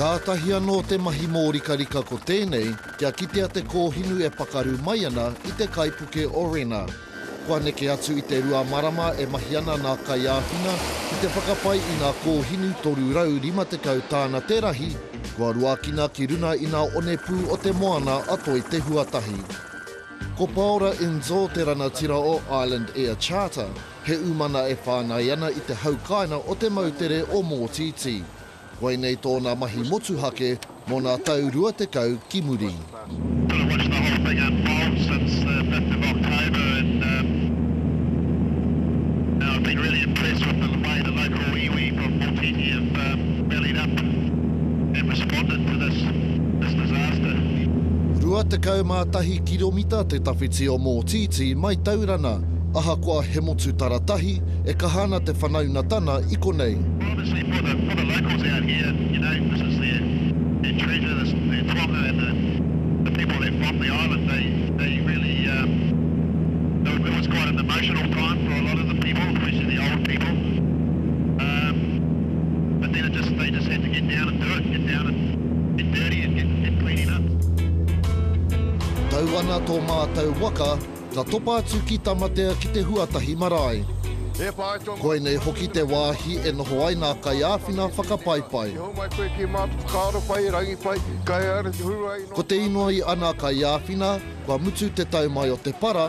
Kātahi anō te mahi mōrikarika ko tēnei kia kitea te kōhinu e pakaru mai ana i te kaipuke o Rena. Kua neke atu i te rua marama e mahi ana nā Kaiāwhina ki te whakapai i ngā kōhinu 350 tāna te rahi kua ruakina ki runa i ngā onepū o te moana a Toi-te-huatahi. Ko Paora Inzo te ranatira o Island Air Charter, he umana e whāngai ana i te haukaina o te moutere o Mōtītī. Koinei tōna mahi motuhake mō nā tau rua tekau ki muri. Tahi kiromita te tawhiti o Mōtītī mai Taurana, ahakoa he motu tara tahi, e kaha ana te whanaunga tana i konei. Tau ana tō mātou waka, ka topa atu ki Tamatea ki te huatahi marae. Koinei hoki te wāhi e noho ai nā kaiāwhina whakapaipai. Ko te inoi a nā kaiāwhina, kua mutu te tau mai o te para,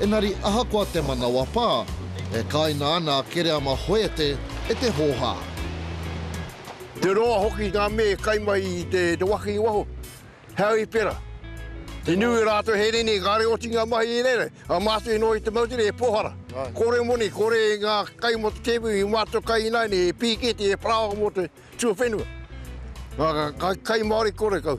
Engari ahakoa te manawa pā, e kāina ana a Kereama Hoete e te hōhā. Te roa hoki ngā mea e kai mai i te waka i waho, heau i pera. Te niu i rātou he rene, kāre oti ngā mahi i reira, a mātou i noho i te moutere e pōhara. Kore moni, kore ngā kai mō te tēpu i mātou kai ināianei e pīketi, e parāoa mō te tuawhenua. Ngā kai Māori kore kau.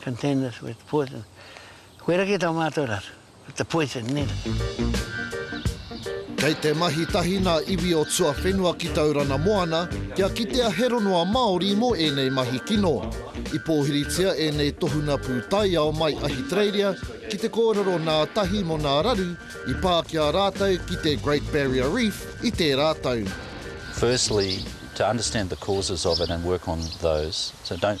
Containers with poison. Koira ki tō mātou rā, with the poison, nē. Kei te mahi tahi ngā iwi o tuawhenua ki Taurana Moana kia kitea he rongoa Māori mō ēnei mahi kino. I pōhiritia ēnei tohunga pūtaiao mai Ahitereiria ki te kōrero nā tahi mō nā raru i pā ki a rātou ki te Great Barrier Reef i tērā tau. Firstly, to understand the causes of it and work on those, so don't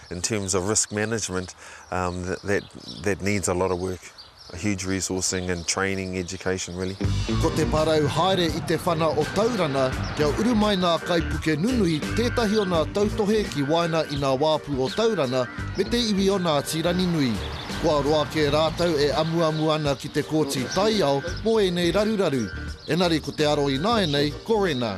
In terms of risk management, that needs a lot of work, a huge resourcing and training, education really. Ko te parau haere i te whana o Taurana kia uru mai nā kaipuke nunui tētahi o nā tautohe ki waena i nā wāpu o Taurana me te iwi o Ngāti Ranginui. Kua roa kē rātou e amuamu ana ki te kōti taiao mō ēnei raruraru, engari ko te aro ināianei ko Rena.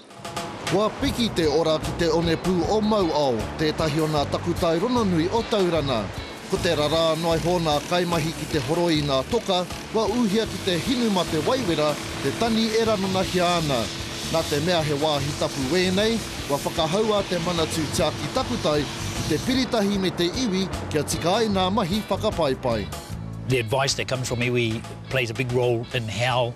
Kua piki te ora ki te onepū o Mauao, tētahi o nā takutai rononui o Taurana. Ko te rarā noa iho nā kaimahi ki te horoi i ngā toka, kua ūhia ki te hinu mā te waiwera te tani e ranonahia ana. Nā te mea he wāhi tapu wēnei, kua whakahaua te Manatū Tiaki Takutai ki te piritahi me te iwi kia tika ai nā mahi whakapaipai. The advice that comes from iwi plays a big role in how